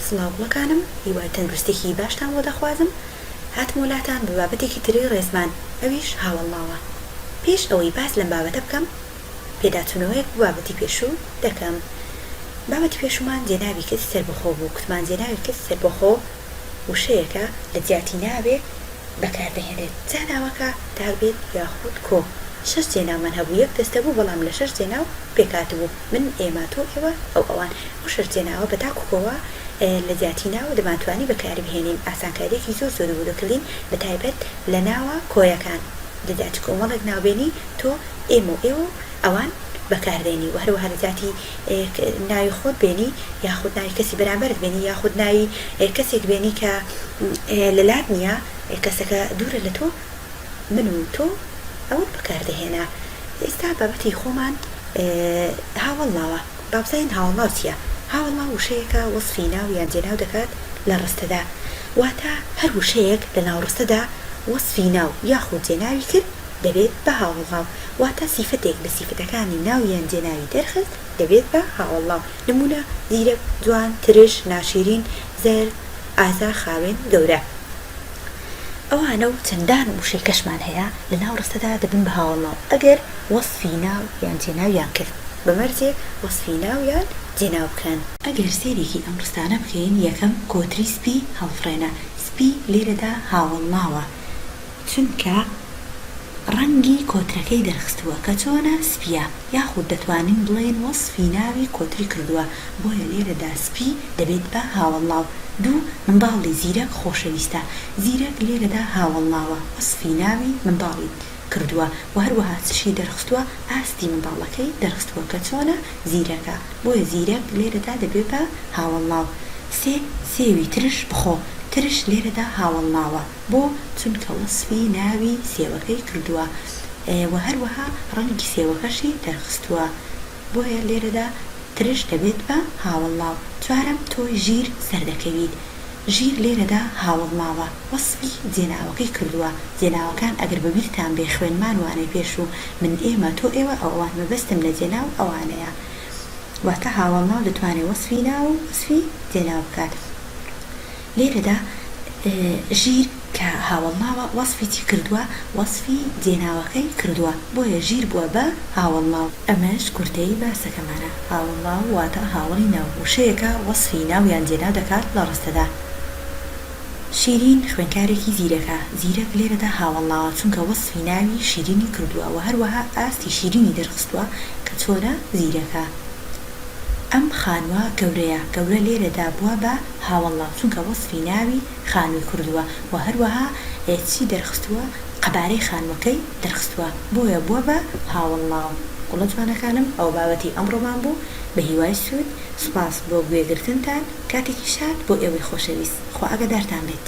سڵاو گوڵەکانم هیوای تەندروستیەکی باشتان بۆ دەخوازم هاتمۆ لاتان بە بابەتێکی تری ڕێزمان ئەویش هاوەڵناوە پێش ئەوەی باس لەم بابەتە بکەم پێداچونەوەیەک بۆ بابەتی پێشوو دەکەم بابەتی پێشوومان جێناوی کەسی سەربەخۆ بوو کوتمان جێناوی کەسی سەربەخۆ وشەیەکە لە جیاتی ناوێ بەکار دەهێنرێت جا ناوەکە دابێت یاخود کۆ شەش جێناومان هەبوو یەک دەستە بوو بەڵام لە شەش جێناو پێکهاتبوو. من، ئێمە، تۆ، ئێوە، ئەو، ئەوان. ئەو شەرتێناوە بە تاک و کۆوە لە جیاتی ناوە دەمانتوانی بەکاری بهێنین، ئاسانکارییەکی زۆر زۆرە بۆ دەرکردین بەتایبەت لە ناوە کۆیەکان دەدا چ کۆمەڵێک ناوبێنی تۆ، ئێمە و ئێوە و ئەوان بەکار دێنی و هەروەها لە جیاتی ناوی خۆت بێنی یاخود ناوی کەسی بەرامبەرت بێنی یاخود ناوی کەسێک بێنی کە لەلات نییە کەسەکە دوورە لە تۆ. من و تۆ ئەوەت بەکاردەهێنا ئێستا بابەتی خۆمان هاوەڵڵاوە با بزانین هاوەڵڵاو چیە هاوەڵڵاو وشەیەکە وەسفی ناو یان جێناو دەکات لە ڕستەدا واتە هەر وشەیەک لە ناو ڕستەدا وەسفی ناو یاخود جێناوی کرد دەبێت بە هاوەڵڵاو واتە سیفەتێک لە سیفەتەکانی ناو یان جێناوی دەرخست دەبێت بە هاوەڵڵاو نموونە زیرەک جوان ترش ناشیرین زەرد ئازا خاوێن گەورە. ئەوانە و چەندان وشەی کەشمان هەیە لە ناو ڕستەدا دەبن بە هاوەڵناو ئەگەر وەسفی ناو یان جێناویان کرد، بە مەرجێ وەسفی ناو یان جێناو بکەن. ئەگەر سەیرێکی ئەم ڕستانە بکەین، یەکەم، کۆتری سپی هەڵفڕێنە، سپی لێرەدا هاوەڵناوە، چونکە ڕەنگی کۆترەکەی دەرخستووە کە چۆنە، سپییە. یاخود دەتوانین بڵێین وەسفی ناوی کۆتری کردووە، بۆیە لێرەدا سپی دەبێت بە هاوەڵناو. دوو، منداڵی زیرەک خۆشەویستە. زیرەک لێرەدا هاوەڵناوە، وەسفی ناوی منداڵی کردووە و هەروەها چشی دەرخستووە، ئاستی منداڵەکەی دەرخستووە کە چۆنە، زیرەکە. بۆیە زیرەک لێرەدا دەبێت بە هاوەڵناو. سێ، سێوی ترش بخۆ. ترش لێرەدا هاوەڵناوە. بۆ؟ چونکە وەسفی ناوی سێوەکەی کردووە و هەروەها ڕەنگی سێوەکەشی دەرخستووە، بۆیە لێرەدا ترش دەبێت بە هاوەڵناو. چوارەم، تۆ ژیر سەر دەکەویت. ژیر لێرەدا هاوەڵناوە، وەسفی جێناوەکەی کردووە. جێناوەکان ئەگەر بە بیرتان بێ خوێنمان وانەی پێش و من ئێمە، تۆ ئێوە، ئەو ئەوان مەبەستم لە جێناو ئەوانەیە. واتە هاوەڵناو دەتوانێت وەسفی ناو و وەسفی جێناو بکات. لێرەدا ژیر کە هاوەڵناوە وەسفی چی کردووە؟ وەسفی جێناوەکەی کردووە بۆیە ژیر بووە بە هاوەڵناو. ئەمەش کورتەی باسەکەمانە. هاوەڵناو واتە هاوەڵی ناو. وشەیەکە وەسفی ناو یان جێناو دەکات لە ڕستەدا. شیرین خوێنکارێکی زیرەکە. زیرەک لێرەدا هاوەڵناوە چونکە وەسفی ناوی شیرینی کردووە وە هەروەها ئاستی شیرینی دەرخستووە کە چۆنە زیرەکە. ئەم خانووە گەورەیە. گەورە لێرەدا بووە بە ها وەڵا چونکە وەسفی ناوی خانوی کردوە وە هەروەها چی دەرخستوە قەبارەی خانوەکەی دەرخستوە بۆیە بوە بە ها وەڵا گوڵە جوانەکانم ئەوە بابەتی ئەمڕۆمان بوو بەهیوای سود سوپاس بۆ گوێ گرتنتان کاتێکیش هات بۆ ئێوەی خۆشەویست خوا ئاگادارتان بێت.